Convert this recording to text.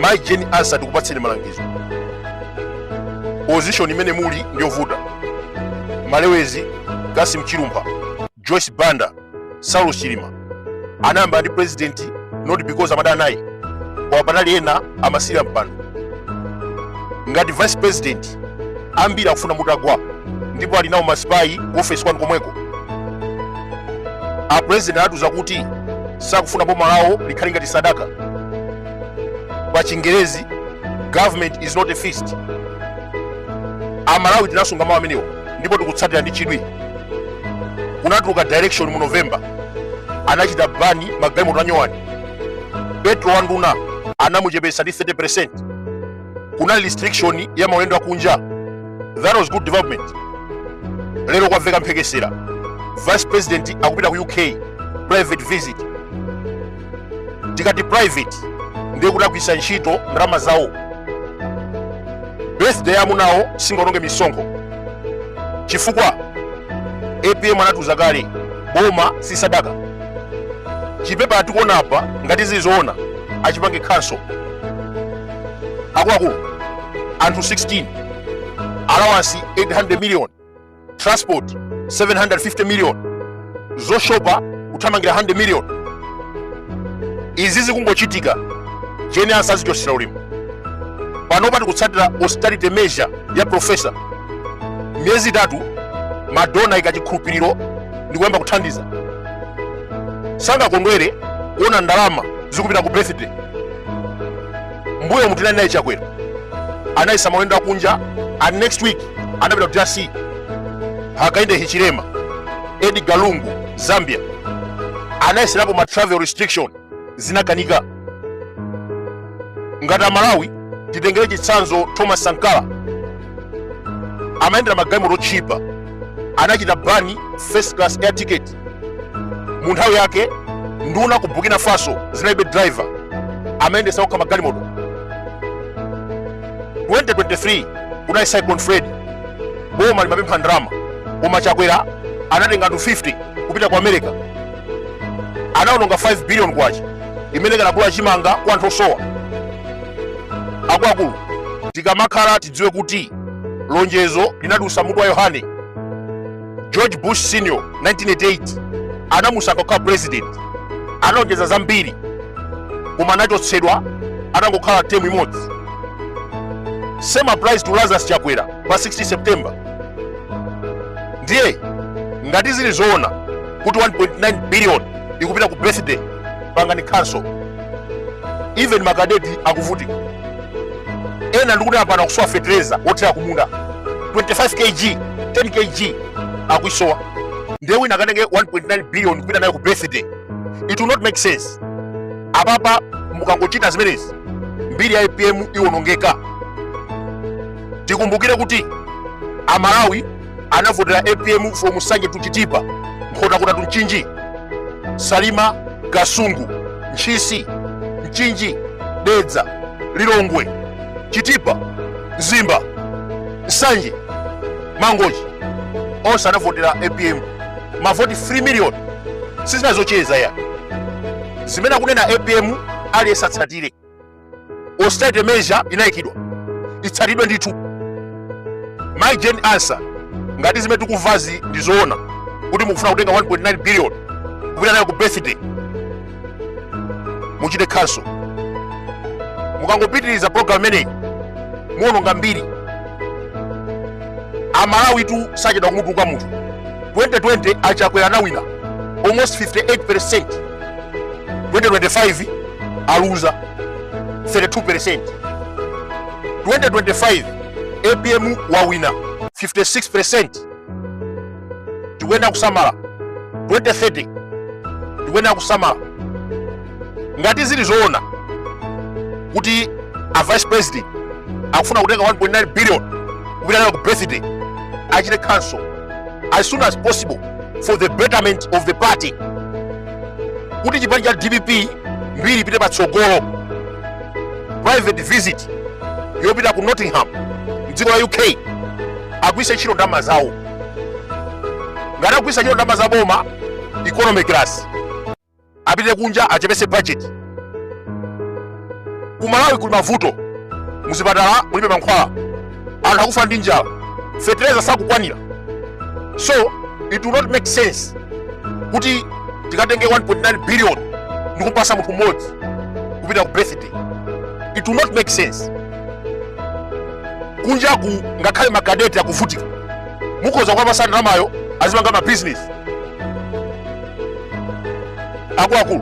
mayi jane ansah tikupatseni malangizo position imene muli ndiyovuta malewezi kasim chilumpha joyce banda saulos chilima anayambana ndi president not because amadana naye koma panali ena amasirira mpando ngati vice president ambiri akufuna mutagwa ndipo ali nawo masipayi ku ofesi kwanu komweko apurezidenti anatiuza kuti sakufuna boma lawo likhale ngati sadaka pa chingerezi government is not a feast amalawi tinasunga mawu amenewo ndipo tikutsatira ndi chidwi kunatuluka directive mu november anachita bani magalimoto anyowani petrol wa nduna anamuchepetsa ndi 30 kunali restriction ya maulendo akunja that was good development lero kwamveka mphekesera vice president akupita ku uk private visit tikati private ndiye kuti agwiritsa ntchito ndalama zawo birthday ya amunawo singaononge misonkho chifukwa apm anatiuza kale boma si sadaka chipepala tikuona apa ngati zili zoona achipange cancel akuluakulu anthu 16 allowance 800 million transport 750 million zoshopa kuthamangira 100 million izi zikungochitika jane ansah azichosera ulemu panopa tikutsatira austerity measure ya profesa miyezi itatu madona aika chikhulupiriro ndikuyamba kuthandiza sangakondwere kuona ndalama zikupita ku birthday mbuyomu tinali naye chakwera anayimitsa maulendo akunja and next week anapita ku drc hakainde hichilema edgar lungu zambia anayeserapo ma travel restriction zinakanika ngati amalawi titengere chitsanzo thomas sankara amayendera magalimoto otchipa anachita bani first class air ticket mu nthawi yake nduna ku burkina faso zinalibe driver amayendesa okha magalimoto 2023 kunali cyclone freddy boma limapempha ndalama koma chakwera anatenga anthu 50 kupita ku america anaononga 5 billion kwacha imene ikanagula chimanga kwa anthu osowa akuluakulu tikamakhala tidziwe kuti lonjezo linadulitsa mutu wa yohane george bush senior 1988 anamusankha kukhala president analonjeza zambiri koma anachotsedwa atangokhala temu imodzi same applies to lazarus chakwera pa 16 september ndiye ngati zili zoona kuti 1.9 billion ikupita ku birthday pangani cancel even makadeti akuvutika ena ndikuti apano akusowa fetereza wothira kumunda 25 kg 10 kg akuisowa ndiye wina akatenge 1.9 billion kupita nayo ku birthday it will not make sense apapa mukangochita zimenezi mbiri ya apm iwonongeka tikumbukire kuti amalawi anavotera apm from nsanje to chitipa nkhotakota to mchinji salima kasungu ntchisi mchinji dedza lilongwe chitipa mzimba nsanje mangochi onse anavotera apm mavoti 3 million si zina zocheza ayi zimene akunena apm aliyense atsatire austerity measure inayikidwa itsatidwe ndithu mayi jane ansah ngati zimene tikumvazi ndi zoona kuti mukufuna kutenga 1.9 billion kupita nayo ku birthday muchite cancel mukangopitiriza program imeneyi muononga mbiri amalawitu sachedwa kumutukwana munthu 2020 achakwera anawina almost 58% 2025 aluza 32% 2025 apm wawina 56% tikuyenera kusamala 2030 tikuyenera kusamala ngati zili zoona kuti a vice president akufuna kutenga 1.9 billion kupita nayo ku birthday achite cancel as soon as possible for the betterment of the party kuti chipani cha dpp mbiri ipite patsogolo private visit yopita ku nottingham mdziko la uk agwiritse ntchito ndalama zawo ngati agwiritsa ntchito ndalama za boma economy class apite kunja achepese budget ku malawi kuli mavuto muzipatala mulibe mankhwala anthu akufa ndi njala fetereza sakukwanira so it will not make sense kuti tikatenge 1.9 billion ndi kumpatsa munthu mmodzi kupita ku birthday it will not make sense kunjaku ngakhale makadeti akuvutika mukhoza kuwapatsa ndalamayo azipanga mabizinesi akuluakulu